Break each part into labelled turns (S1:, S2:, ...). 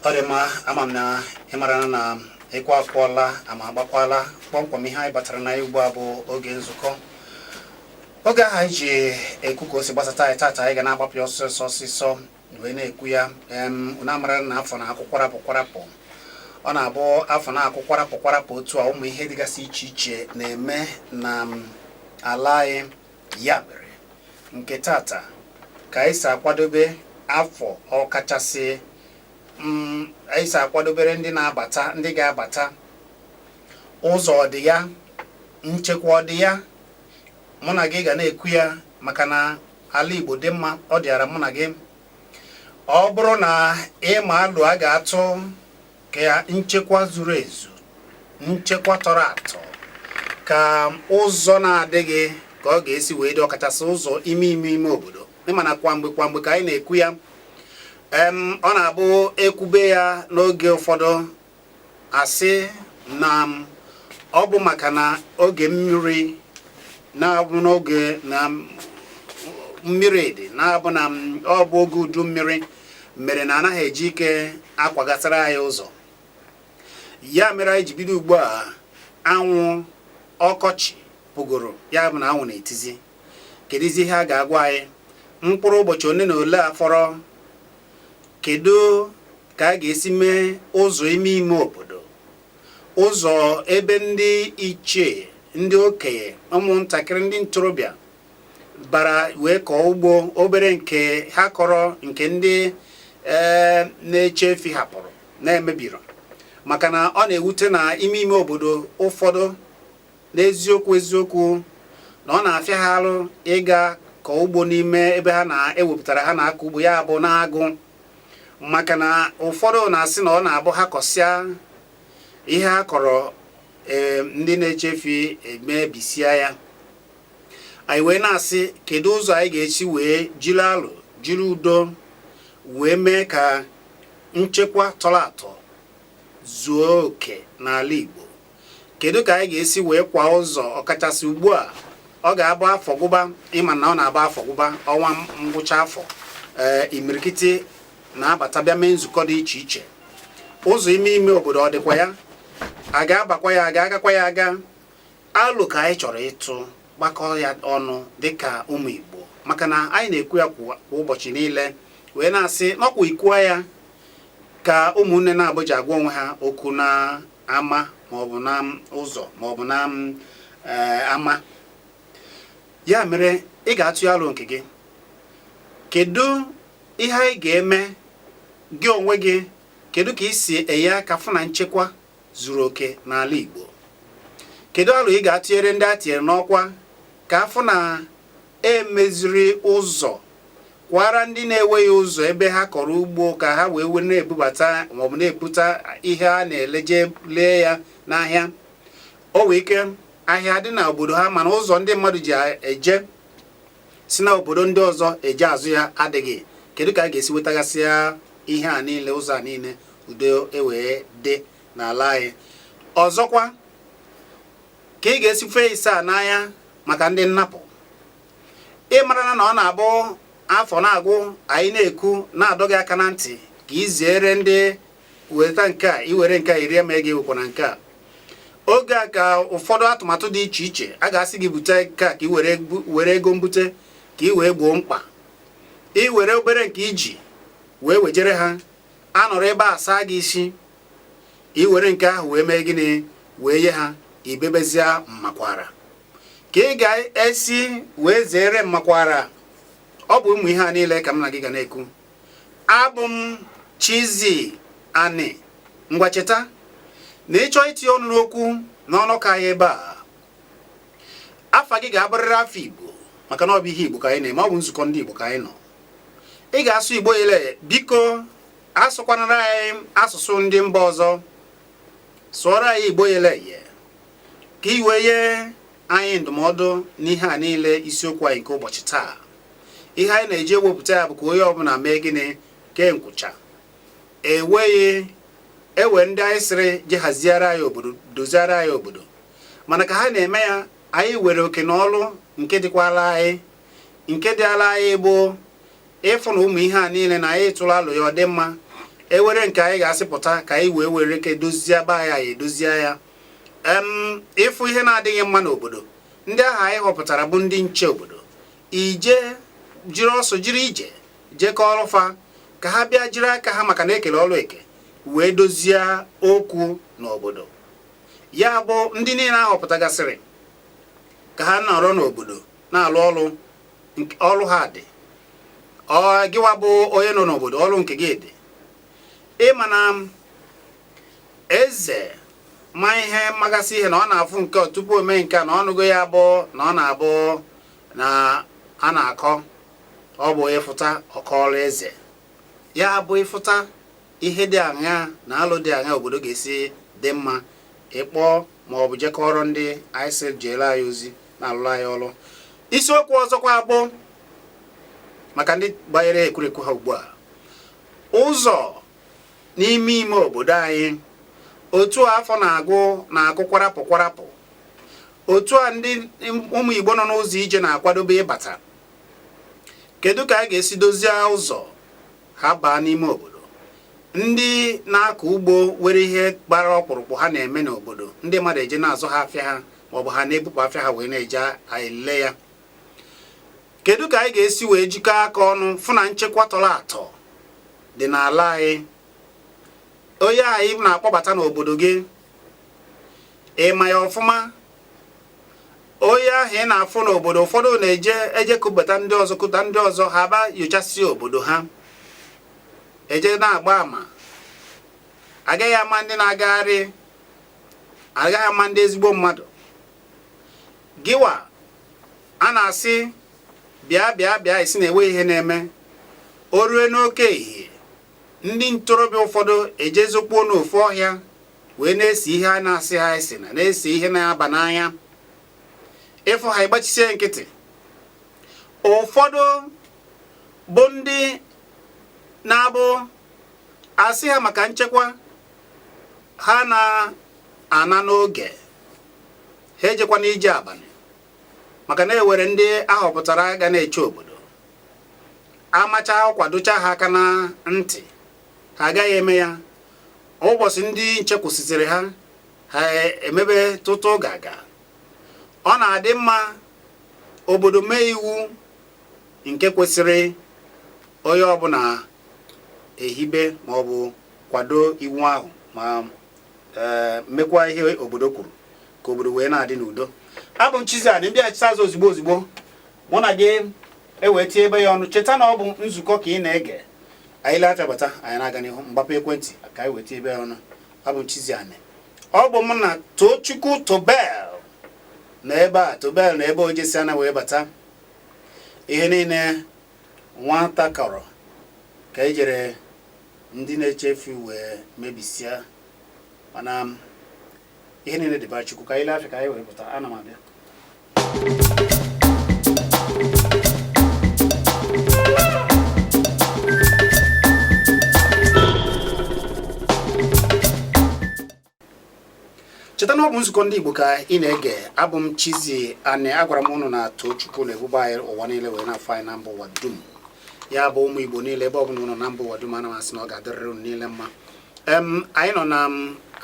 S1: ọ dị mma ama m na ị mara na ịkwa akwụọla ama agbakwaala kpọmkwem ihe anyị batara na ya ugbu a bụ oge nzukọ oge ahụ anyị ji ekwu ka o si gbasata anyị tata anyị ga na-agbapụ ya ọsịsọ ọsịsọ wee na-ekwu ya unu amara na afọ na-akwụ kwarapụ kwarapụ ọ na-abụ afọ na-akwụ kwarapụ kwarapụ otu a ụmụ ihe dịgasị iche iche na-eme na ala anyị ya mere nke tata ka anyị si akwadobe afọ ọkachasị mm, anyị si akwadobere ndị na-abata ndị ga-abata ụzọ ọ dị ya nchekwa ọ dị ya mụ na gị ga na-ekwu ya maka na ala Igbo dị mma ọ dịara mụ na gị ọ bụrụ na ị ma alo a ga-atụ ka nchekwa zuru ezu nchekwa tọrọ atọ ka ụzọ na-adịghị ka ọ ga-esi wee dị ọkachasị ụzọ ime ime ime obodo ị ma na kwa mgbe kwa mgbe ka anyị na-ekwu ya ọ na-abụ ekwube ya n'oge ụfọdụ a sị na ọ bụ maka na oge mmiri na-abụ n'oge na mmiri dị na-abụ na ọ bụ oge udu mmiri mere na anaghị eji ike akwagasịra anyị ụzọ ya mere anyị ji bido ugbu a anwụ ọkọchị pụgoro ya bụ na anwụ na-etizi kedụzi ihe a ga-agwa anyị mkpụrụ ụbọchị one na ole a fọrọ kedu ka a ga-esi mee ụzọ ime ime obodo ụzọ ebe ndị ichie ndị okenye ụmụntakịrị ndị ntorobịa bara wee kọọ ugbo obere nke ha kọrọ nke ndị eh, na-eche efi hapụrụ na-emebiri maka na ọ na-ewute na ime ime obodo ụfọdụ N'eziokwu eziokwu na ọ na-afịa ha arụ ịga kọọ ugbo n'ime ebe ha na-ewepụtara ha na-akọ ugbo ya bụ n'agụ maka na ụfọdụ na-asị na ọ na-abụ ha kọsịa ihe ha kọrọ eh, ndị na-eche efi emebisia ya anyị wee na-asị kedu ụzọ anyị ga-esi wee jiri alo jiri udo wee mee ka nchekwa tọrọ atọ zuo oke n'ala Igbo kedu ka anyị ga-esi wee kwa ụzọ ọkachasị ugbu a ọ ga-abụ afọ gwụba ịma na ọ na-abụ afọ gwụba ọnwa ngwụcha afọ ee imirikiti na-abata bịa mee nzukọ dị iche iche ụzọ ime ime obodo ọ dịkwa ya a ga-abakwa ya a ga-agakwa ya aga alo ka anyị chọrọ ịtụ gbakọ ya ọnụ dịka ụmụ Igbo maka na anyị na-ekwu ya kwa ụbọchị niile wee na-asị n'ọkwa ikuwa ya ka ụmụnne na-abụ eji agwa onwe ha okwu na ama maọbụ na ụzọ maọbụ na eh, ama ya mere ị ga-atụ ya alo nke gị kedu ihe anyị ga-eme gị onwe gị kedu ka ị si enye aka fụ na nchekwa zuru oke n'ala Igbo kedu alo ị ga-atụnyere ndị a tinyere n'ọkwa ka a fụ na emeziri ụzọ kwara ndị na-enweghị ụzọ ebe ha kọrọ ugbo ka ha wee wee na-ebubata maọbụ na-ebuta ihe a na-ele je lee ya n'ahịa o wee ike ahịa dị na obodo ha mana ụzọ ndị mmadụ ji eje si na obodo ndị ọzọ eje azụ ya adịghị kedu ka a ga-esi wetagasịa ihe a niile ụzọ a niile udo ewee dị n'ala anyị ọzọkwa ka ị ga-esi fee ise a n'anya maka ndị nnapụ ị marana na ọ na-abụ afọ na-agwụ anyị na-ekwu na-adọ gị aka na ntị ka ị zere ndị weta nke a i were nke a irie ma ị ga-ewekwa na nke a oge a ka ụfọdụ atụmatụ dị iche iche a ga-asị gị bute nke ka ị were ego mbute ka ị wee gboo mkpa ị were obere nke i ji wee wejere ha a nọrọ ebe a saa gị isi ị were nke ahụ wee mee gịnị wee nye ha i bebezie mmakwara ka ị ga-esi wee zere mmakwara ọ bụ ụmụ ihe a niile ka m na gị ga na-ekwu abụ m Chizzy Ani ngwa cheta na ị chọọ itinye ọnụ n'okwu n'ọnọkọ anyị ebe a afa gị ga-abụrịrị afa Igbo maka na ọ bụ ihe Igbo ka anyị na-eme ọ bụ nzukọ ndị Igbo ka anyị nọ ị ga-asụ Igbo ile biko asụkwanara anyị asụsụ ndị mba ọzọ sụọrọ anyị Igbo ile ye ka i wee nye anyị ndụmọdụ n'ihe a niile isiokwu anyị nke ụbọchị taa ihe anyị na-eji ewepụta ya bụ ka onye ọbụla mee gịnị kee nkwụcha enweghị ewere ndị anyị sịrị je haziere anyị obodo doziere anyị obodo mana ka ha na-eme ya anyị were oke na ọlụ nke dịkwala anyị nke dịala anyị bụ ịfụ na ụmụ ihe a niile na anyị tụrụ alo ya ọ dị mma ewere nke anyị ga-asị pụta ka anyị wee were ike dozie be anyị anyị edozie ya ị fụ ihe na-adịghị mma n'obodo ndị ahụ anyị họpụtara bụ ndị nche obodo i je jiri ọsọ jiri ije je kọọrọ fa ka ha bịa jiri aka ha maka na ekele ọrụ eke wee dozie okwu n'obodo ya bụ ndị niile ahọpụtagasịrị ka ha nọrọ n'obodo na-alụ ọrụ ọrụ ha dị gịwa bụ onye nọ n'obodo ọrụ nke gị dị ị ma na eze ma ihe magasị ihe na ọ na-afụ nke ọ tupu o mee nke a na ọ nụgo ya bụ na ọ na-abụ na a na-akọ ọ bụ ịfụta ọ kọọrụ eze ya bụ ị fụta ihe dị aṅa na alụ dị aṅa obodo ga-esi dị mma ị kpọọ ma ọ bụ je kọọrọ ndị anyị sị jeere anyị ozi na-alụrụ anyị ọrụ isiokwu ọzọkwa bụ maka ndị gbanyere ekwurekwu ha ugbu a ụzọ n'ime ime obodo anyị otu a afọ na-agụ na-akụ kwarapụ kwarapụ otu a ndị ụmụ Igbo nọ n'ụzọ ije na-akwadobe ịbata kedu ka a ga-esi dozie ụzọ ha baa n'ime obodo ndị na-akọ ugbo nwere ihe gbara ọkpụrụkpụ ha na-eme n'obodo ndị mmadụ eje na-azụ ha afịa ha maọbụ ha na-ebupụ afịa ha wee na-eje ele ya kedu ka anyị ga-esi wee jikọ aka ọnụ fụ na nchekwa tọrọ atọ dị n'ala anyị onye ahụ ị na-akpọbata n'obodo gị ị ma ya ọfụma onye ahụ ị na-afụ n'obodo ụfọdụ na-eje eje kụbata ndị ọzọ kụta ndị ọzọ ha baa nyochasịa obodo ha eje na-agba ama agaghị ama ndị na-agagharị agaghị ama ndị ezigbo mmadụ gịwa a na-asị bịa bịa bịa ị sị na enweghị ihe na-eme o rue n'oke ehihie ndị ntorobịa ụfọdụ ejezokpuo n'ofu ọhịa wee na-ese ihe a na-asị ha esena na-ese ihe na-aba n'anya ị fụ ha ị gbachisie nkịtị ụfọdụ bụ ndị na-abụ a sị ha maka nchekwa ha na-ana n'oge ha ejekwana ije abalị maka na e nwere ndị ahọpụtara ga na-eche obodo a macha ọkwa dọcha ha aka na ntị ha agaghị eme ya ụbọchị ndị nche kwụsịsịrị ha ha emebe tụtụ gaga ọ na-adị mma obodo mee iwu nke kwesịrị onye ọbụla ehibe maọbụ kwado iwu ahụ ma ee mekwa ihe obodo kwuru ka obodo wee na-adị n'udo abụ m Chizzy Ani m bịachie azụ ozugbo ozugbo mụ na gị ewee tinyebe ya ọnụ cheta na ọ bụ nzukọ ka ị na-ege anyị lee afịa bata anyị na-aga n'ihu mgbapụ ekwentị ka anyị wee tinyebe ya ọnụ abụ m Chizzy Ani ọ bụ mụ na Tochukwu Tobel nọ ebe a Tobel na ebe o jesiana wee bata ihe niile Nwata kọrọ ka e jere ndị na-echefu wee mebisia mana ihe niile dịba Chukwu ka anyị lee afịa ka anyị wee pụta ana m abịa cheta na ọ bụ nzukọ ndị Igbo ka ị na-ege abụ m Chizzy Ani agwara m ụnụ na Tochukwu na-ebube anyị ụwa niile wee na-afụ anyị na mba ụwa dum ya bụ ụmụ Igbo niile ebe ọ bụla ụnụ nọ na mba ụwa dum ana m asị na ọ ga-adịrịrị ụnụ niile mma anyị nọ na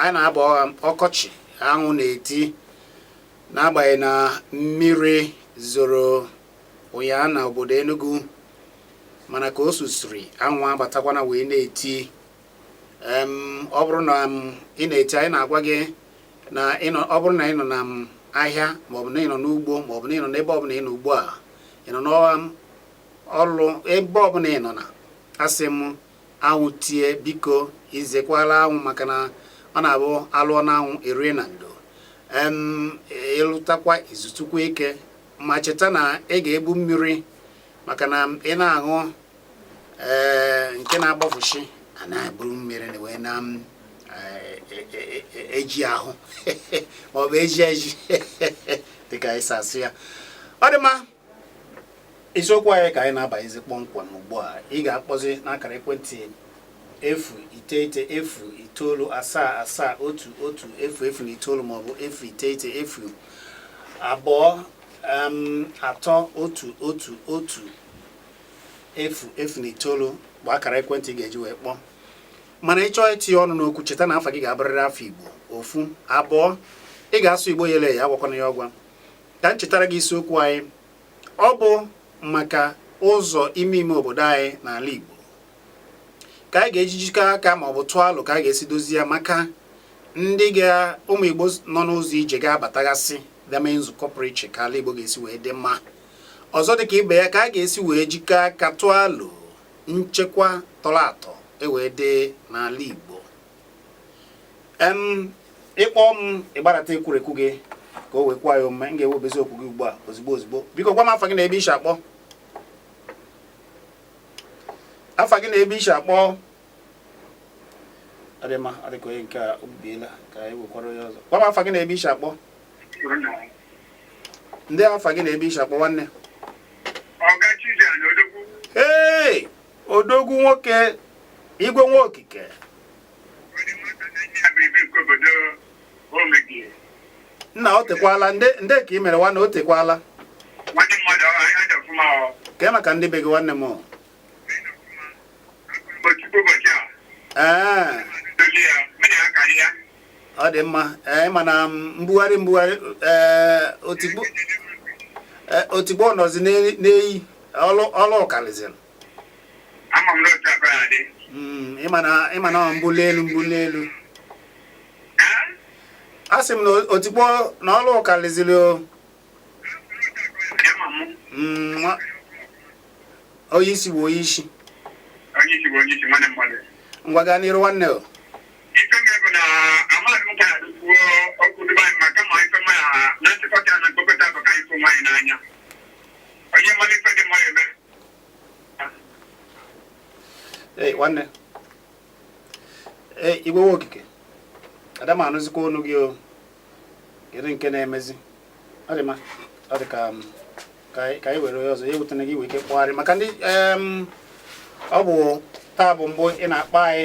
S1: anyị na-aba ọkọchị anwụ na-eti n'agbanyeghị na mmiri zoro ụnyaahụ na obodo Enugu mana ka o zosiri anwụ abatakwana wee na-eti ọ bụrụ na ị na-ege ntị anyị na-agwa gị na ọ bụrụ na ị nọ na ahịa maọbụ na ị nọ n'ugbo maọbụ na ị nọ n'ebe ọbụla ị nọ ugbu a ị nọ n'ọrụ ebe ọbụla ị nọ na asị m anwụ tie biko ezekwala anwụ maka na ọ na-abụ a lụọ na anwụ e rie na ndo ị lụtakwa i zutukwa ike ma cheta na ị ga-ebu mmiri maka na ị na-aṅụ ee nke na-agbafuchi a na-eburu mmiri na wee na m, eh, eh, eh, eh, eji ahụ ma ọ bụ eji eji dịka anyị si asụ ya ọ dị mma isiokwu anyị ka anyị na-abanyezi kpọmkwem ugbu a ị ga-akpọzi n'akara ekwentị efu iteghete efu itoolu asaa asaa otu otu efu efu na itoolu maọbụ efu iteghete efu abụọ em, atọ otu otu otu efu efu na itoolu bụ akara ekwentị ị ga-eji wee kpọọ mana ị chọọ itinye ọnụ n'okwu cheta na afa gị ga-abụrịrị afa igbo ofu abụọ ị ga-asụ igbo yele ya agwakwana ya ọgwa ka m chetara gị isiokwu anyị ọ bụ maka ụzọ ime ime obodo anyị n'ala igbo ka anyị ga-eji jikọ aka ma ọ bụ tụọ alo ka anyị ga-esi dozie ya maka ndị ụmụ igbo nọ n'ụzọ ije ga-abatagasị bịa mee nzukọ pụrụ iche ka ala igbo ga-esi wee dị mma ọzọ dịka ibe ya ka a ga-esi wee jikọ aka tụọ alo nchekwa tọrọ atọ ewee dị n'ala Igbo em ị kpọ m ị gbarata ekwurekwu gị ka o wee kwe ya omume m ga-ewebezi okwu gị ugbu a ozigbo ozigbo biko gwa m afa gị na ebe i si akpọ afa gị na ebe i si akpọ ọ dị mma ọ dịka onye nke a obibiela ka anyị wekwara onye ọzọ gwa m afa gị na ebe i si akpọ ndee afa gị na ebe i shi akpọ nwanne ee odogwu nwoke igwe nwa okike nna o tekwala ndee ka ị mere nwanne o tekwala kee maka ndị be gị nwanne m ee ọ dị mma ee eh, ị ma na mbugharị mbugharị eh, o tegwo eh, o tegwo nọzi n'eyi ọlụ ọ kalịzịrị hmm, ị ma na mbuli elu mbuli elu a sị m na o tegwo na ọlụ ọ kalịzịrị o hmm, onye isi bụ onye isi ngwa gaa n'iru nwanne o Hey, nwanne ee igwe nwa okike ada m anụzikwa ọnụ gị o kedu nke na-emezi ọ dị mma ọ dị ka um, ka anyị were onye ọzọ ya ewutena gị i nwee ike kpọgharịa maka ndị ọ bụ taa bụ mbụ ị na-akpọ anyị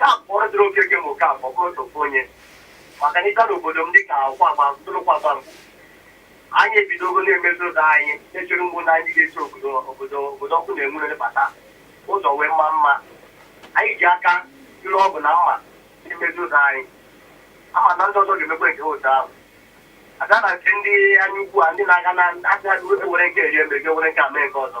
S2: Ya pụọ dịrị Okeke ma Okafor bụrụ ofu onye maka na ị bịa n'obodo m dịka Ụkwagba Ntụrụ Ụkwagba Ngbo, anyị ebidogo na-emezi ụzọ anyị na-echere mbụ na anyị ga-esi obodo obodo obodo ọkụ na-enwu na-abata ụzọ wee maa mma. Anyị ji aka jiri ọgụ na mma na-emezi ụzọ anyị. A ma na ndị ọzọ ga-emekwa nke ha otu ahụ. A gaa na nke ndị anya ukwu a ndị na-aga na-asị ha were nke rie mbe ga were nke a mee nke ọzọ.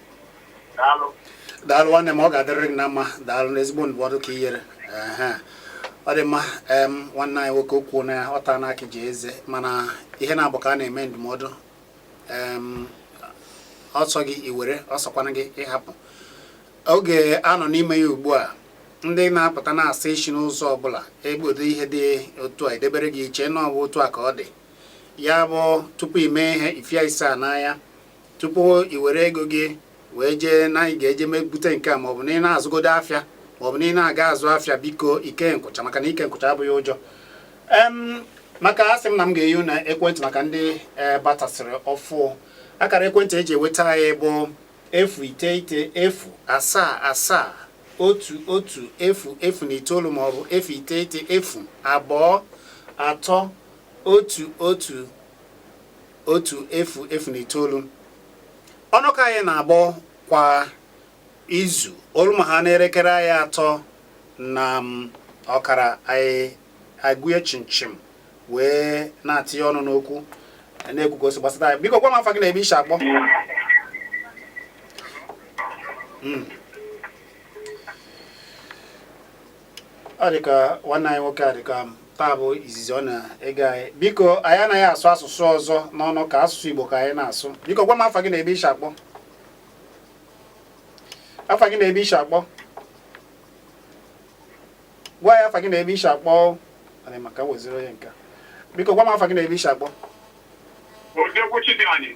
S1: daalụ nwanne m ọ ga-adịrịrị gị na mma daalụ n'ezigbo ndụmọdụ ka i nyere ọ dị mma nwanne anyị nwoke okwu na ọta n'aka e ji eze mana ihe na-abụ ka a na-eme ndụmọdụ ọ sọ gị i were ọ sọkwana gị ị hapụ oge a nọ n'ime ya ugbu a ndị na-apụta na-asa isi n'ụzọ ọbụla egbodo ihe dị otu a e debere gị i chee na ọ bụ otu a ka ọ dị ya bụ tupu i mee ihe ifia ise a n'anya tupu i were ego gị wee jee na ị ga-eje mbute nke a maọbụ na ị na-azụgodo afịa maọbụ na ị na-aga azụ afịa biko i kee nkwụcha maka na ike nkwụcha abụghị ụjọ maka asị m na m ga-eje na ekwentị maka ndị eh, batasịrị ọfụ akara ekwentị eji enweta anyị bụ efu iteghete efu asaa asaa otu otu efu efu na itoolu maọbụ efu iteghete efu abụọ atọ otu otu otu efu efu na itoolu ọnụkọ anyị na-abụ kwa izu o lu ma ha n'erekere anya atọ na mm, ọkara anyị agwụye chimchim wee na-atinye ọnụ n'okwu na-ekwu ka o si gbasata anyị biko gwa m afa gị na ebe i si akpọ Mm. ọ dị ka nwanne anyị nwoke a dị ka taa bụ izizi ọ na-ege anyị biko anyị anaghị asụ asụsụ ọzọ n'ọnụkọ asụsụ Igbo ka anyị na-asụ biko gwa m afa gị na ebe i shi akpọ afa gị na ebe i shi akpọ gwa ya afa gị na ebe i shi akpọ anyị maka weziri onye nka biko gwa m afa gị na ebe i shi akpọ Odekwuchi dị anyị.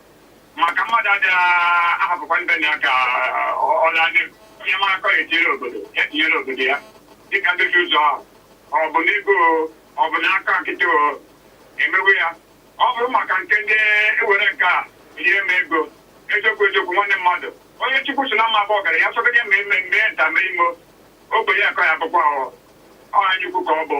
S3: maka mmadụ adị ahapụkwa ndị na ya ka ọ laa n'egwu onye mara akọ ya etinyere obodo ya tinyere obodo ya dịka ndozi ụzọ ahụ ọ bụ n'ego ọ bụ n'aka nkịtị e mewe ya ọ bụrụ maka nke ndị nwere nke a ihe ma ego eziokwu eziokwu nwanne mmadụ onye chukwu sị na ọ ma-abụ ọgaranya ya sọgide ma eme mee nta mee imo ogbenye ka ọ ya-abụkwa ọ eziokwu ka ọ bụ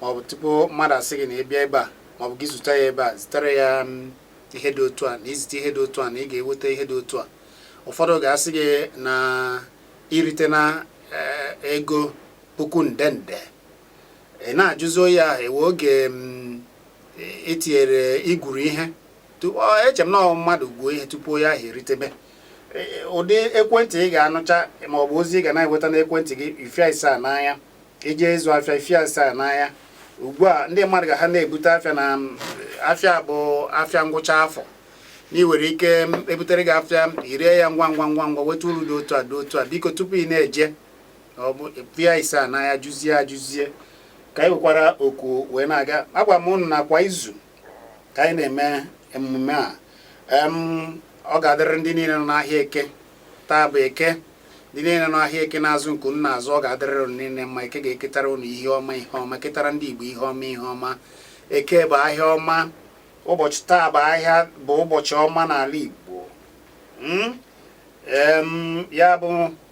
S1: maọbụ tupu mmadụ asị gị na ị bịa ebe a maọbụ gị zụta ya ebe a zitere ya mm, ihe dị otu a na i zite ihe dị otu a na ị ga-enweta ihe dị otu a ụfọdụ ga-asị gị na i rite na eh, ego puku nde nde ị na-ajụzi onye ahụ o nwere oge mm, etinyere i gwuru ihe eche m na mmadụ gwuo ihe tupu onye ahụ eritebe ụdị ekwentị ị ga-anụcha maọbụ ozi ị ga na-enweta n'ekwentị gị ị fịa ise n'anya i je ịzụ afịa ị fịa ise n'anya ugbu a ndị mmadụ ga ha na-ebute afịa na afịa bụ afịa ngwụcha afọ na ị nwere ike ebutere gị afịa i ree ya ngwa ngwa ngwa ngwa weta uru dị otu a dị otu a biko tupu ị na-eje ọ bụ ị fịa ise n'anya jụzie ajụzie ka anyị wekwara oku wee na-aga agwa m ụnụ na kwa izu ka anyị na-eme emume a ọ ga-adịrị ndị niile nọ n'ahịa eke taa bụ eke ndị niile nọ n'ahịa eke na-azụ nke unu na-azụ ọ ga-adịrịrị unu niile mma eke ga-eketara unu ihe ọma ihe ọma ketara ndị Igbo ihe ọma ihe ọma eke bụ ahịa ọma ụbọchị taa bụ ahịa bụ ụbọchị ọma n'ala Igbo hmm? ya bụ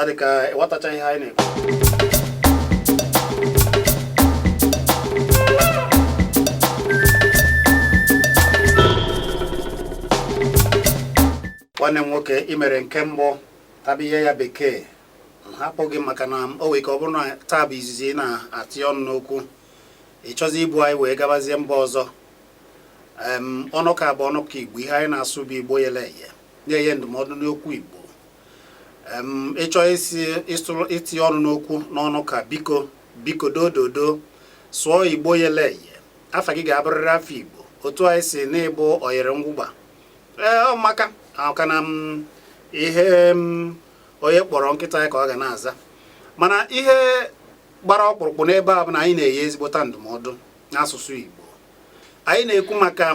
S1: adịka ịghọtacha ihe anyị na-ekwu nwanne m nwoke ị mere nke mbụ taba ihe ya bekee m hapụ gị maka na o nwere ike ọ bụrụ na taa bụ izizi ị na-atụ ọnụ n'okwu ị chọzi ibu anyị wee gabazie mba ọzọ em ọnọkọ a bụ ọnọkọ igbo ihe anyị na-asụ bụ igbo yele eye na-enye ndụmọdụ n'okwu igbo ị chọọ itinye ọnụ n'okwu n'ọnọkọ a biko biko dododo sụọ igbo yele eye afa gị ga-abụrịrị afa igbo otu anyị si na-ịbụ oyere ngwụgba ee ọ maka na ihe onye kpọrọ nkịta ya ka ọ ga na-aza mana ihe gbara ọkpụrụkpụ n'ebe a bụ na anyị na-enye ezigbota ndụmọdụ n'asụsụ igbo anyị na-ekwu maka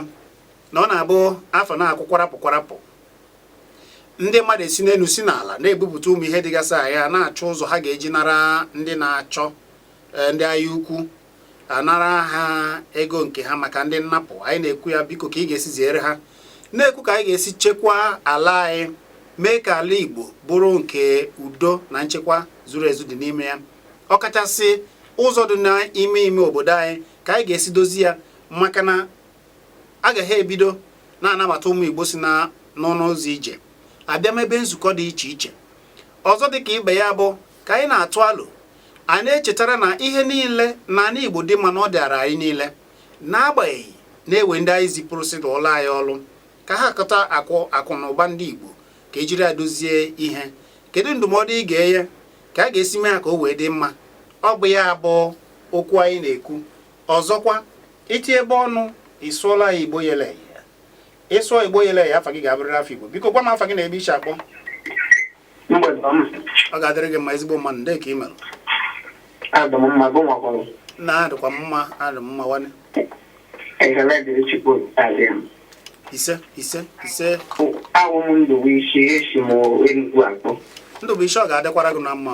S1: na ọ na-abụ afọ na-akwụ kwarapụ kwarapụ ndị mmadụ esi n'elu si n'ala na-ebupụta ụmụ ihe dịgasịa na-achọ ụzọ ha ga-eji nara ndị na-achọ eh, ndị anya ukwu anara ha ego nke ha maka ndị nnapụ anyị na-ekwu ya biko ka ị ga-esi ziere ha na-ekwu ka anyị ga-esi chekwaa ala anyị mee ka ala Igbo bụrụ nke udo na nchekwa zuru ezu dị n'ime ya ọkachasị ụzọ dị n'ime ime obodo anyị ka anyị ga-esi dozi ya maka na a gaghị ebido na-anabata ụmụ Igbo si na n'ọnụ ụzọ ije abịa mebe nzukọ dị iche iche ọzọ dị ka ibe ya bụ ka anyị na-atụ alo a na-echetara na ihe niile na ana Igbo dị mma na ọ dịara anyị niile n'agbanyeghị na e nwee ndị anyị zipụrụ sị lụọlọ anyị ọlụ ka ha kọta akụ akụ na ụba ndị Igbo ka e jiri ya dozie ihe kedu ndụmọdụ ị ga-enye ka a ga-esi mee ya ka o wee dị mma ọ bụ ya bụ okwu anyị na-ekwu ọzọkwa i tiebe ọnụ ị sụọla ya igbo yele eye ị sụọ igbo yele eye afa gị ga-abụrịrị afa igbo biko gwa m afa gị na ebe i si akpọ ọ ga-adịrị gị mma ezigbo mmadụ ndee ka ị mere na adịkwa mma adị m mma nwanne ise ise ise awụ m ndụbụisi esi m enugwu akpọ ndụbụisi ọ ga-adịkwara gị na mma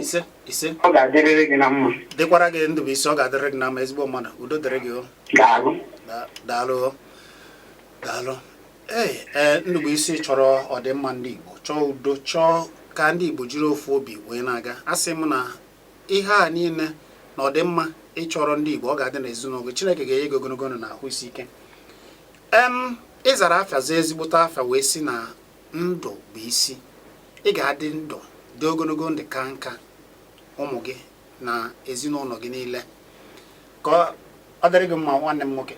S1: ise ise ọ ga-adịrịrị gị
S4: na mma dịkwara gị ndụbụisi
S1: ọ ga-adịrị gị na mma ezigbo mmadụ udo dịrị gị o daalụ Da- daalụ o. daalụ ee ee ndụbụisi ị chọrọ ọdịmma ndị igbo chọọ udo chọọ ka ndị igbo jiri ofu obi wee na-aga asị m na ihe a niile na ọdịmma ị chọrọ ndị igbo ọ ga-adị n'ezinụlọ gị chineke ga-enye gị ogologo ndụ na ahụ isi ike em ị zara afa zaa ezigbote afa wee si na ndụ bụ isi ị ga-adị ndụ dị ogologo ndụ kaa nka ụmụ gị na ezinụlọ gị niile ka ọ dịrị gị mma nwanne m nwoke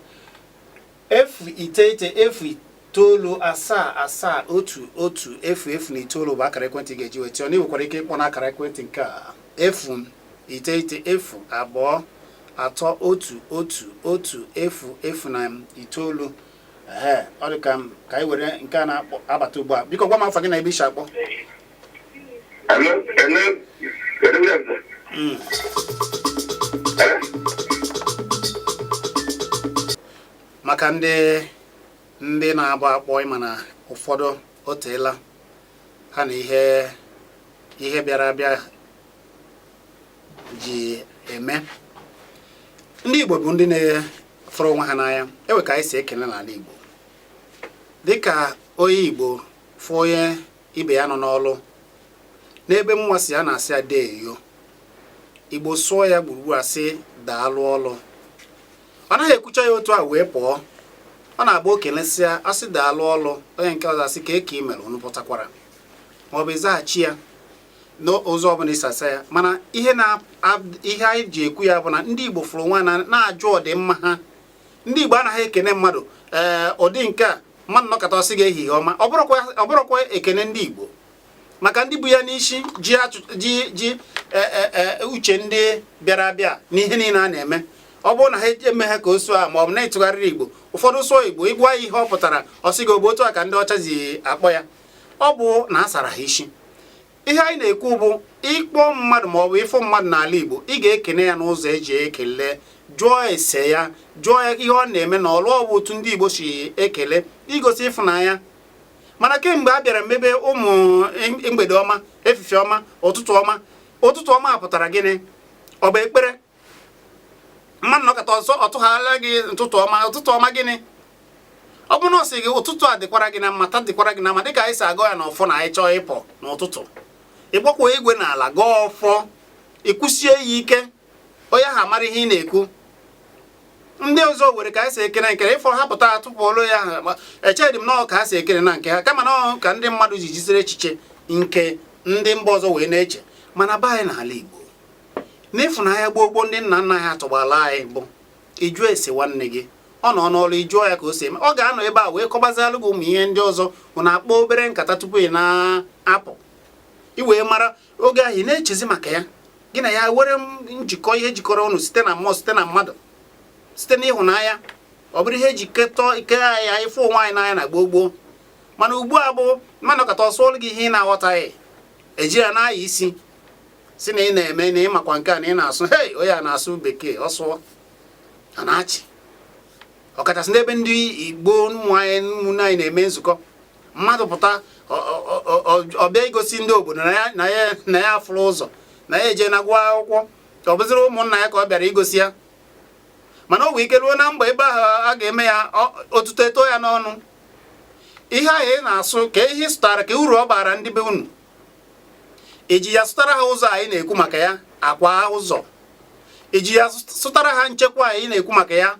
S1: efu iteghete efu itoolu asaa asaa otu otu efu efu na itoolu bụ akara ekwentị ị ga-eji nweta anyị i nwekwara ike ịkpọ n'akara ekwentị nke a efu iteghete efu abụọ atọ otu otu otu efu efu na itoolu ee ọ dị ka m ka anyị were nke a na-abata ugbu a biko gwa m afa gị na ebe i si akpọ Hello? Hello? Hello, good afternoon. Mm. Hello? maka ndị ndị na-agba akpọ ị ma na ụfọdụ o teela ha na ihe ihe bịara abịa ji eme ndị Igbo bụ ndị na-afụrụ onwe ha n'anya e wee ka anyị si ekele n'ala Igbo dịka onye Igbo fụ onye ibe ya nọ n'ọlụ n'ebe mụwa si a na-asị ya deeyo Igbo sụọ ya gburugburu a sị daalụ ọlụ ọ naghị ekwucha ya otu a wee pụọ ọ na-agba o kelesịa sị daalụ ọlụ onye nke ọzọ asị kee ka i mere unu pụtakwara maọbụ ịzaghachi ya n'ụzọ ọbụla i si asa ya mana ihe na ihe anyị ji ekwu ya bụ na ndị Igbo fụrụ nwanne na-ajụ ọdịmma ha ndị Igbo anaghị ekene mmadụ ee eh, ụdị nke a mmadụ nọkata ọ sị gị ehihie ọma ọ bụrọkwa ekene ndị Igbo maka ndị bu ya n'isi ji ji ji eh, eh, uche ndị bịara abịa n'ihe niile a na-eme ọ bụrụ na ha eme ha ka ọ sụọ a ma ọ bụ na-etụgharịrị Igbo ụfọdụ sụọ Igbo ị gwa ya ihe ọ pụtara ọ sị gị otu a ka ndị ọcha si akpọ ya ọ bụ na a sara ha isi ihe anyị na-ekwu bụ ịkpọ mmadụ ma ọ bụ ịfụ mmadụ n'ala Igbo ị ga-ekene ya n'ụzọ e ji ekele jụọ ese ya jụọ ya ihe ọ na-eme n'ọlụ ọ bụ otu ndị Igbo si ekele igosi ịfụnanya mana kemgbe a bịara mebe ụmụ mgbede ọma efifie ọma ụtụtụ ọma ụtụtụ ọma pụtara gịnị ọ bụ ekpere mmadụ nọkata ọzọ ọ tụgharịla gị ụtụtụ ọma ụtụtụ ọma gịnị ọ bụrụ na ọ sị gị ụtụtụ a dịkwara gị na mma taa dịkwara gị na mma dịka anyị si agọ ya n'ọfọ na anyị chọọ ịpụ n'ụtụtụ ịgbakwa igwe na ala gọọ ọfọ i kwusie ya ike onye ha mara ihe ị na-ekwu ndị ọzọ were ka anyị si ekene nkere ịfọ ha pụta atụpụ ọlụ ya ha echedị m na ọ ka ha si ekene na nke ha kama na ka ndị mmadụ ji jiziri echiche nke ndị mba ọzọ wee na-eche mana be anyị n'ala Igbo n'ịfụnanya gboo gboo ndị nna nna anyị atọgbaala anyị bụ ịjụ ese nwanne gị ọ nọ n'ọrụ ị jụọ ya ka o si eme ọ ga-anọ ebe a wee kọbazialụ gị ụmụ ihe ndị ọzọ unu akpọ obere nkata tupu ị na-apụ ị wee mara oge ahụ ị na-echezi maka ya gị na ya nwere njikọ ihe jikọrọ unu site na mmụọ site na mmadụ site n'ịhụnanya ọ bụrụ ihe eji ketọ ike ya ịfụ onwe anyị n'anya na gboo gboo mana ugbu a bụ mmadụ kata ọ sụọlụ gị ihe ị na-aghọtaghị eji ya na-anya isi si na ị na-eme na ị makwa nke a na ị na-asụ hei onye a na-asụ bekee ọ sụọ a na-achị ọkachasị n'ebe ndị igbo ụmụ anyị ụmụnne anyị na-eme nzukọ mmadụ pụta ọ bịa igosi ndị obodo na ya afụrụ ụzọ na ya ejena gụọ akwụkwọ ọ bụzịrị ụmụnna ya ka ọ bịara igosi ya mana o nwee ike ruo na mba ebe ahụ a ga-eme ya otuto eto ya n'ọnụ ihe ahụ ị na-asụ kee ihe ị sụtara kee uru ọ bara ndị be unu i ji ya sụtara ha ụzọ anyị na-ekwu maka ya akwa ụzọ i ji ya sụtara ha nchekwa anyị na-ekwu maka ya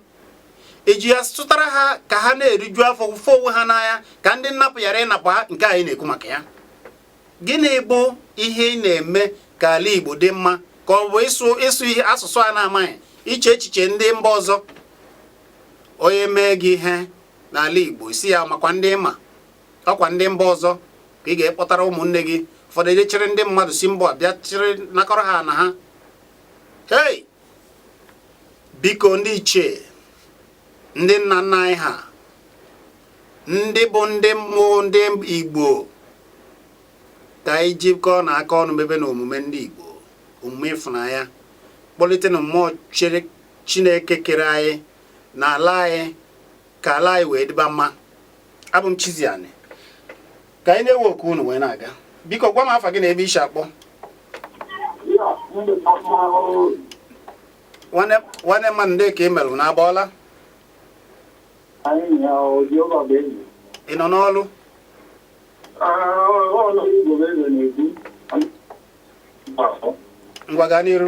S1: i ji ya sụtara ha ka ha na-eriju afọ fụ onwe ha n'anya ka ndị nnapụ ghara ịnapụ ha nke anyị na-ekwu maka ya gịnị bụ ihe ị na-eme ka ala Igbo dị mma ka ọ bụ ịsụ ịsụ ihe asụsụ a na-amaghị iche echiche ndị mba ọzọ onye mee gị ihe n'ala Igbo ị sị ya makwa ndị ị ma ọ kwa ndị mba ọzọ ka ị ga-akpọtara ụmụnne gị ụfọdụ eje chịrị ndị mmadụ si mba bịa chịrị nakọrọ ha na ha hei biko ndị ichie ndị nna nna anyị ha ndị bụ ndị mmụọ ndị igbo ka anyị jikọọnụ aka ọnụ mebenụ omume ndị igbo omume ịfụnanya kpọlitenụ mmụọ chi chineke kere anyị na ala anyị ka ala anyị wee dịba mma abụ m Chiziani ka anyị na-ewe oku unu wee na-aga biko gwa m afa gị na ebe i si akpọ nwanne mmadụ ndị ka ị merụ na abọọla ị nọ n'ọlụ ngwa gaa n'iru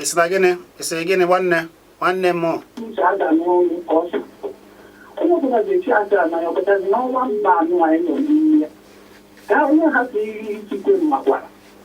S4: esi na gịnị esi gịnị
S1: nwanne nwanne m onye
S4: ọbụla ga-echi aja na ya ọkọtazi n'ọnwa mba anụ anyị nọ n'ime ya ka onye ha si iri ikikwe mmakwara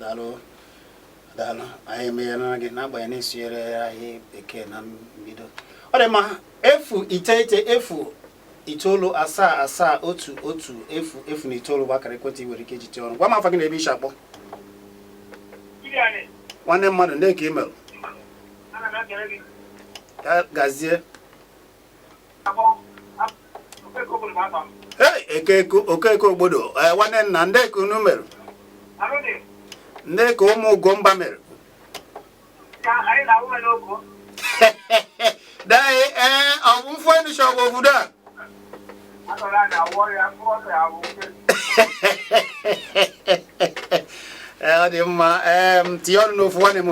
S1: daalụ daalụ anyị emeghela gị n'agbanyeghị na ị sụnyere anyị bekee na mbido ọ dị mma efu iteghete efu itoolu asaa asaa otu otu efu efu na itoolu bụ akara ekwentị nwere ike iji tee ọrụ gwa m afa gị na ebe i si akpọ nwanne mmadụ ndị ka ị merụ gazie okeke ogbodo eh, nwanne nna ndee ka unu mere ndee ka ụmụ ugomba mere daghị ee eh, ọ bụ mfu enisha ọgwụ obodo a eh, ọ dị mma tinye ọnụ n'ofu nwanne m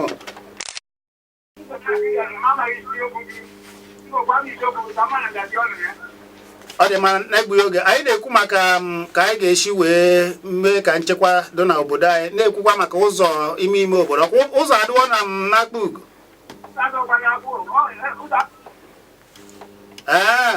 S1: ọ dị mma na-egbughị oge anyị na-ekwu maka ka anyị ga-esi wee mee ka nchekwa dị na obodo anyị na-ekwukwa maka ụzọ ime ime obodo ọkwa ụzọ adịwo mma n'Akpugo ee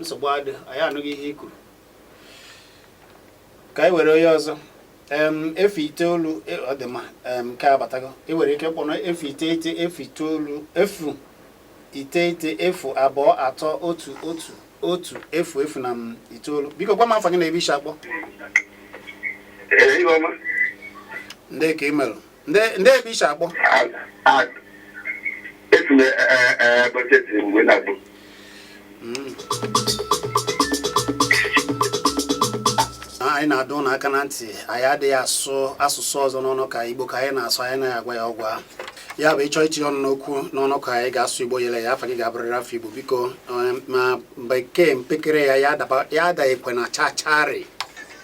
S1: nsogbu adịghị anyị anụghị ihe i kwuru ka anyị were onye ọzọ efu itoolu e, ọ dị mma nke a abatago ị nwere ike kpọrọ efu iteghete efu itoolu efu iteghete efu abụọ atọ otu otu otu efu efu na em itoolu biko gwa m afa gị na ebe i si akpọ Ee, Ihuọma. ndee ka ị mere ndee ndee ebe i si akpọ A- a- Esi m ee, ee, Ebonyi steeti wee na-akpọ. anyị na-adọ unu aka na ntị anyị adịghị asụ asụsụ ọzọ n'ọnụkọ a igbo ka anyị na-asụ anyị naghị agwa ya ọgwa ya bụ ị chọọ itinye ọnụ n'okwu n'ọnụkọ anyị ị ga-asụ igbo yere ya afa gị ga-abụrịrị afa igbo biko um, ma bekee mpekere ya ya adaghịkwe na chachari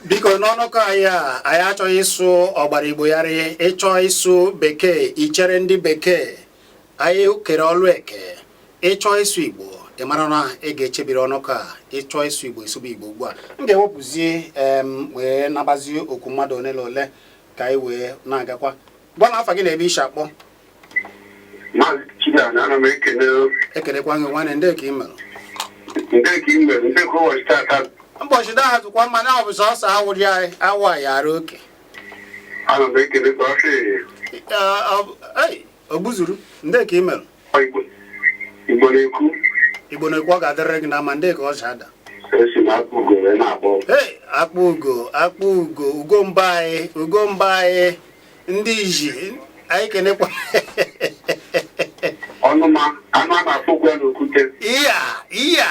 S1: biko n'ọnụkọ anyị a anyị achọghị ịsụ ọgbara igbo yarị ị chọọ ịsụ bekee i chere ndị bekee Anyị kere ọlụ eke ị chọọ ịsụ Igbo ị mara na ị ga-echebiri ọnụkọ a ị chọọ ịsụ Igbo ị sụba Igbo ugbu a m ga-ewepụzie em wee nabazie okwu mmadụ ole na ole ka anyị wee na-agakwa gwa m afa gị na ebe i si akpọ Maazị Chinana, ana m ekele ekelekwa gị nwanne ndee ka ị mere ndee ka ị mere ndee ka ụbọchị tata ụbọchị taa dịkwa mma na ọ bụ sọsọ awụrị anyị awa ya ara oke ana m ekele kpasị ogbuzuru ndee ka ị mere igbo na-ekwu igbo na-ekwu ọ ga-adịrịrị gị mma ndee ka ọ si adị Akpugo Akpugo ugo mba anyị ugo mba anyị ndị iji anyị kenekwa ọnụma anụ a na-afụ ụgwọ n'okwute iya iya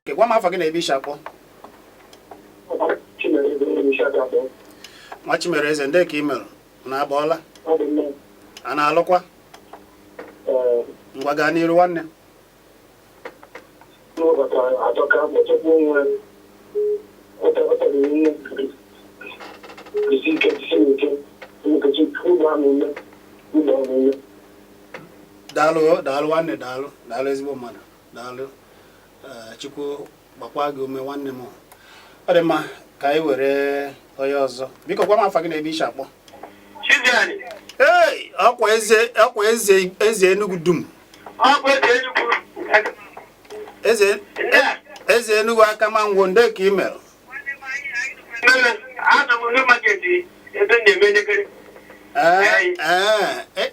S1: Okay gwa m afa gị na ebe i si akpọ nwa Chimereze ndee ka ị mere na abọọla a na-alụkwa ngwa gaa n'iru nwanne daalụ daalụ nwanne daalụ daalụ ezigbo mmadụ daalụ eh, chukwu gbakwa gị ume nwanne m ọ dị mma ka anyị were onye ọzọ biko gwa m afa gị na ebe i shi akpọ ee ọkwa eze ọkwa eze eze Enugu dum eze eze Enugu Akama Ngwo ndee ka ị mere ee ee e, e,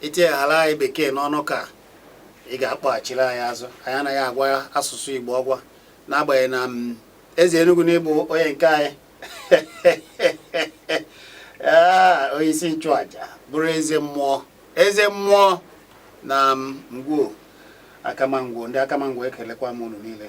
S1: i tinyeghara anyị bekee n'ọnụ ka ị ga-akpọghachiri anyị azụ anyị anaghị agwa asụsụ Igbo ọgwa n'agbanyeghị na mm, eze Enugu na ị bụ onye nke anyị ah, onye isi nchụaja bụrụ eze mmụọ eze mmụọ na mm, Ngwo Akama Ngwo ndị Akama Ngwo ekelekwa m unu niile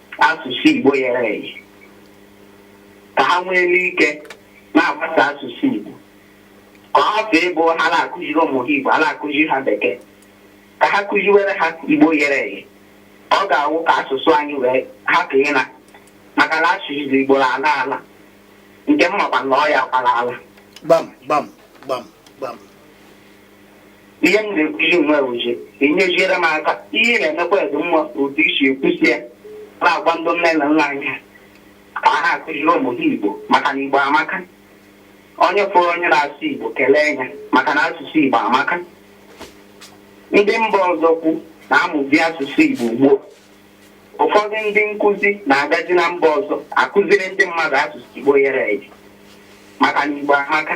S4: asụsụ Igbo yere eye ka ha nwee ike na-agbasa asụsụ Igbo ka ọ hapụ ịbụ ha na-akụziri ụmụ ha Igbo ha na-akụziri ha bekee ka ha kụziwere ha Igbo yere eye ọ ga-awụ ka asụsụ anyị wee hapụ ịna maka na asụsụ Igbo na-ala ala nke m makwa na ọ ya kwala ala gbam gbam gbam
S1: gbam
S4: ihe m na-ekwuzi nwe uche inyeziere m aka ihe ị na-emekwa ezi mma otu i si ekwusi ya na-agwa ndị nne na nna anyị ka ha akụziri ụmụ ha igbo maka na igbo amaka onye fụrụ onye na-asụ igbo kelee ya maka na asụsụ igbo amaka ndị mba ọzọ kwu na-amụzi asụsụ igbo ugbu a ụfọdụ ndị nkụzi na-agazi na mba ọzọ akụziri ndị mmadụ asụsụ igbo yere eye maka na igbo amaka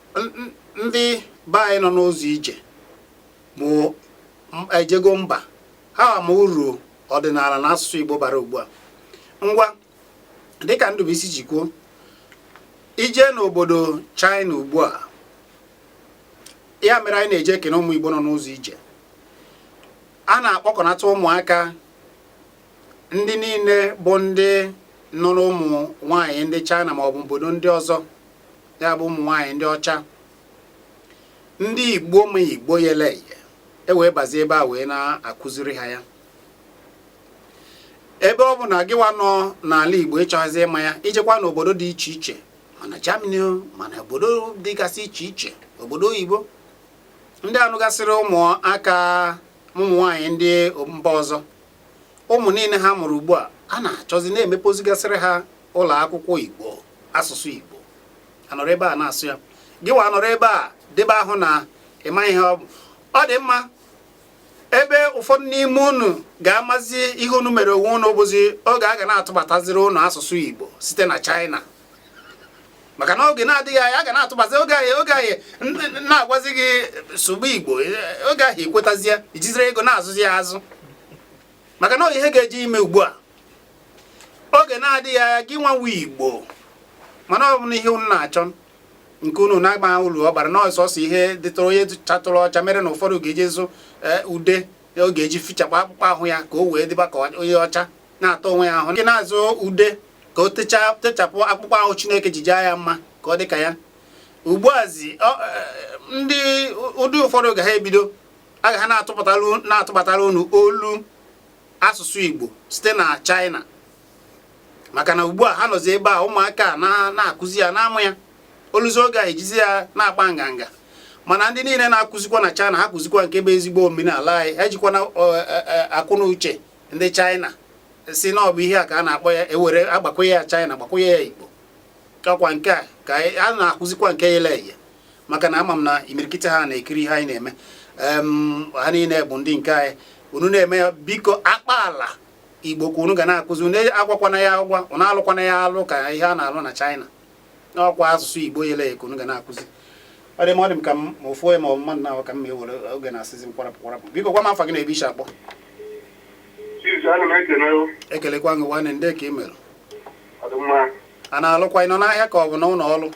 S1: ndị be anyị nọ n'ụzọ ije bụ ejego mba ha ama uru ọdịnala na asụsụ Igbo bara ugbu a ngwa dịka Ndubuisi si kwuo i jee n'obodo China ugbu a ya mere anyị na-eje ekene ụmụ Igbo nọ n'ụzọ ije a na-akpọkọnata ụmụaka ndị niile bụ ndị nụrụ ụmụ nwaanyị ndị China ma ọ bụ obodo ndị ọzọ ya bụ ụmụ nwaanyị ndị ọcha ndị igbo ma igbo yele eye e wee bazie ebe a wee na-akụziri ha ya ebe ọ bụ na gịwa nọ n'ala igbo ị chọghịzi ịma ya i jekwa n'obodo dị iche iche ma na Germany ma na obodo dịgasị iche iche obodo oyibo ndị a nụgasịrị ụmụaka ụmụ nwaanyị ndị mba ọzọ ụmụ niile ha mụrụ ugbu a a na-achọzi na-emepozigasịrị ha ụlọ akwụkwọ Igbo asụsụ Igbo anọrọ ebe a na-asụ ya gị wa anọrọ ebe a debe ahụ na ịma ihe ọ bụ ọ dị mma ebe ụfọdụ n'ime unu ga-amazi ihe unu mere onwe unu bụzi oge a ga na-atụbataziri unu asụsụ Igbo site na China maka na oge na-adịghị anya a ga na-atụbazi oge ahụ oge ahụ a na-agwazi gị sụgbu Igbo oge ahụ ekwetazie i jiziri ego na-azụzi ya azụ maka na ihe ga-eji ime ugbu a oge na-adịghị anya gị wa nwa Igbo mana ọ bụ na ihe unu na-achọ nke unu na-agba uru ọ bara na sọsọ ihe dịtụrụ onye chatụrụ ọcha mere na ụfọdụ ga-eji zụ e, ude ọ ga-eji fichapụ akpụkpọ ahụ ya ka o wee dịba ka onye ọcha na-ata onwe ya ahụ nke na-azụ ude ka o techapụ akpụkpọ ahụ Chineke ji jaa ya mma ka ọ dị ka ya ugbuazi e, ndị ụdị ụfọdụ ga ha ebido aga ha na-atụbatara unu olu asụsụ Igbo site na China maka na ugbu a ha nọzi ebe a ụmụaka na-akụzi ya na-amụ ya oluzi oge a ejizi ya na-akpa nganga mana ndị niile na-akụzikwa na China ha kụzikwa nke bụ ezigbo omenala anyị ejikwana e, e, akụ na uche ndị China sị na ọ bụ ihe a ka a na-akpọ ya ewere agbakwụnye ya China gbakwụnye ya Igbo ọkwa nke a ka a na-akụzikwa nke yele eye maka na ama m na imirikiti ha na-ekiri ihe anyị na-eme ha niile bụ ndị nke anyị unu na-eme ya biko akpa ala Igbo ka unu ga na-akụzi unu agwakwana ya agwa unu alụkwana ya alụ ka ihe a na-alụ na China na ọkwa asụsụ Igbo yele eye ka unu ga na-akụzi ọ dị m ọ dị m ka m ma ofu onye ma ọ mmadụ na-ahụ ka m ma ewere oge na-asịzi m kwarapụ kwarapụ biko gwa m afa gị na ebe ị si akpọ ekelekwa gị nwanne ndee ka ị mere a na-alụkwa ị nọ n'ahịa ka ọ bụ na ụlọ ọrụ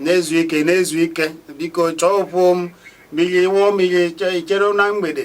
S1: na-ezu ike na-ezu ike biko chọọ ụfụ m mmiri wụọ mmiri ichere na mgbede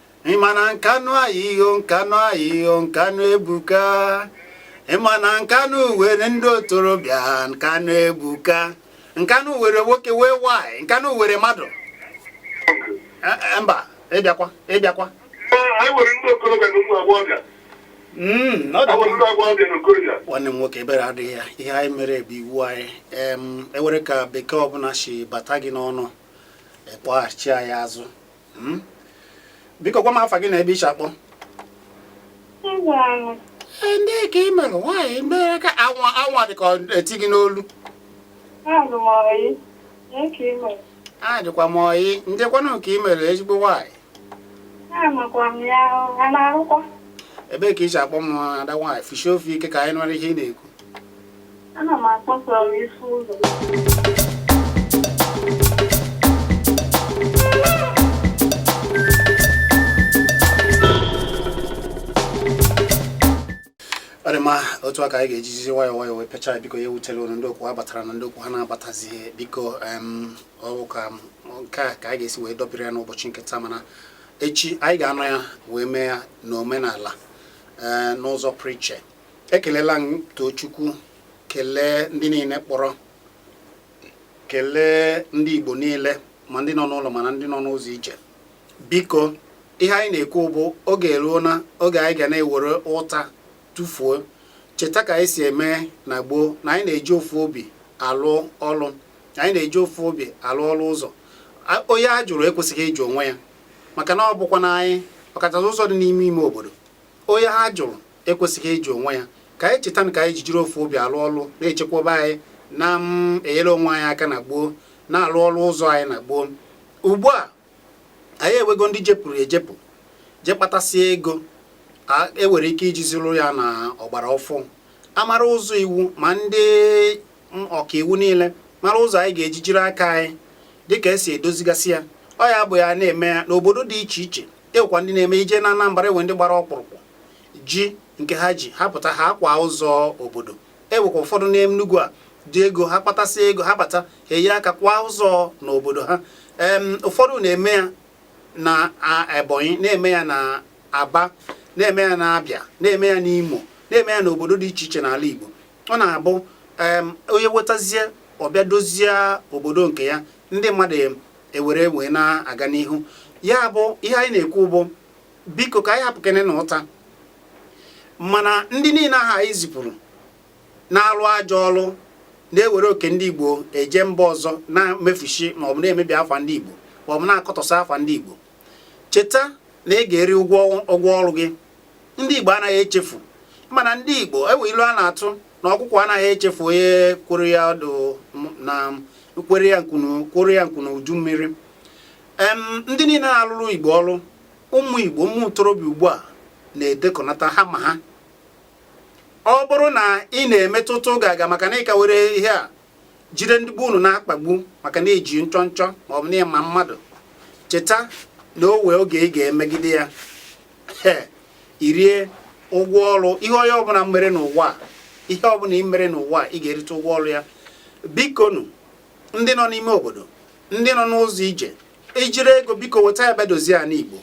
S1: ịma na Nkanụ anyị o Nkanụ anyị o nkanụ ebuka ịma na nkanụ were ndị otorobịa nkanụ ebuka nkanụ were nwoke wee nwanyị nkanụ were mmadụ Eh, eh, mba ịbịakwa ịbịakwa
S5: anyị nwere ndị okorobịa na ụmụ agbọghọbịa Mm, ọ dị awere ndị agbọghọbịa
S1: na okorobịa nwanne m nwoke ebere adịghị ya ihe anyị mere bụ iwu anyị em ewere ka bekee ọbụla si bata gị n'ọnụ ị kpọghachi anyị azụ Hmm? biko gwa m afa gị na ebe ị si akpọ ndee ka ị mere nwaanyị mere ka anwa anwa dị ka eti gị n'olu adịkwa m ọyị ndekwanụ ka ị mere ezigbo nwaanyị ebee ka ị si akpọ m ada nwaanyị fishie ọnụ ike ka anyị nụrụ ihe ị na-ekwu Ana m akpọ from Isi Ụzọ. ọ dị mma otu a ka anyị ga-ejizi nwayọọ nwayọọ wee pịachaa biko ya ewutela unu ndị okwu ha batara na ndị okwu ha na-abatazi biko em, ọ bụ ka m- nke a ka anyị ga-esi wee dọbiri ya n'ụbọchị nke taa mana echi anyị ga-anọ ya wee mee ya n'omenala ee, n'ụzọ pụrụ iche ekelela m Tochukwu kelee ndị niile kpọrọ kelee ndị Igbo niile ma ndị nọ n'ụlọ ma na ndị nọ n'ụzọ ije biko ihe anyị na-ekwu bụ oge eruona oge anyị ga na-ewere ụta tụfuo cheta ka anyị si eme na gboo na anyị na-eji ofu obi alụ ọlụ anyị na-eji ofu obi alụ ọlụ ụzọ onye a jụrụ ekwesịghị ịjụ onwe ya maka na ọ bụkwa na anyị ọkachasị ụzọ dị n'ime ime obodo onye a jụrụ ekwesịghị ịjụ onwe ya ka anyị cheta na ka anyị jijiri ofu obi alụ ọlụ na-echekwaba anyị na-enyere onwe anyị aka na gboo na-alụ ọlụ ụzọ anyị na gboo ugbu a anyị ewego ndị jepụrụ ejepụ je kpatasịa ego ewere ike ijizi rụọ ya na ọgbara ọfụụ a mara ụzọ iwu ma ndị ọkaiwu niile mara ụzọ anyị ga-eji jiri aka anyị dịka e si edozigasị ya ọ ya bụ ha na-eme ya n'obodo dị iche iche ewekwa ndị na-eme ije na Anambra ewe ndị gbara ọkpụrụkpụ ji nke ha ji ha pụta ha akwa ụzọ obodo ewekwa ụfọdụ n'Enugu a ndị ego ha kpatasị ego ha bata ha enye aka kwa ụzọ n'obodo ha ụfọdụ na-eme ya na Ebonyi na-eme ya na Aba na-eme ya na Abịa na-eme ya n'Imo na-eme ya n'obodo dị iche iche n'ala Igbo ọ na-abụ onye wetazie ọ bịa dozie obodo nke ya ndị mmadụ ewere wee na-aga n'ihu ya bụ ihe anyị na-ekwu bụ biko ka anyị hapụkenenụ ụta mana ndị niile ahụ anyị zipụrụ na-alụ ajọ ọlụ na-ewere oke ndị Igbo eje mba ọzọ na-emefushi maọbụ na-emebi afa ndị Igbo maọbụ na-akọtọsị afa ndị Igbo cheta na ị ga-eri ụgwọ ọrụ gị ndị Igbo anaghị echefu ị ma na ndị Igbo ewe ilu a na-atụ na ọkụkọ anaghị echefu onye kworo ya ọdụ na kworo ya nku n'udu mmiri ndị niile na-alụrụ Igbo ọrụ ụmụ Igbo ụmụ ntorobịa ugbu a na-edekọnata ha ma ha ọ bụrụ na ị na-emetụta oge aga maka na ị ka were ihe a jide ndị Igbo unu na-akpagbu maka na i ji nchọnchọ ma ọ bụ na ị ma mmadụ cheta na o wee oge ị ga-emegide ya i rie ụgwọ ọrụ ihe onye ọbụla mere n'ụwa ihe ọbụla ị mere n'ụwa ị ga-erite ụgwọ ọrụ ya bikonu ndị nọ n'ime obodo ndị nọ n'ụzọ ije i jiri ego biko weta ya bịa dozie ana Igbo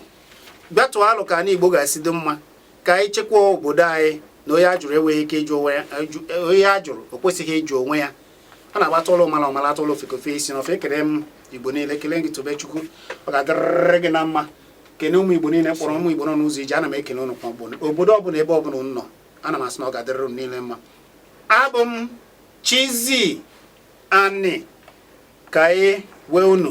S1: bịa tụọ alo ka ana Igbo ga-esi dị mma ka anyị chekwa obodo anyị na onye ajụrụ enweghị ike ịjụ onwe ya onye ajụrụ o kwesịghị ịjụ onwe ya a na-agba atụọlọ ọmara ọ mara atụọlọ ofeke o fe isi na ọfịa ekele m igbo niile kelee gị Tobechukwu ọ ga-adịrịrị gị na mma kene ụmụ igbo niile kpọrọ ụmụ igbo nọ n'ụzọ ije ana m ekene ụnụ kwa obodo ọbụla ebe ọbụla ụnụ nọ ana m asị na ọ ga-adịrịrị ụnụ niile mma abụ m Chizzy Ani ka anyị wee unu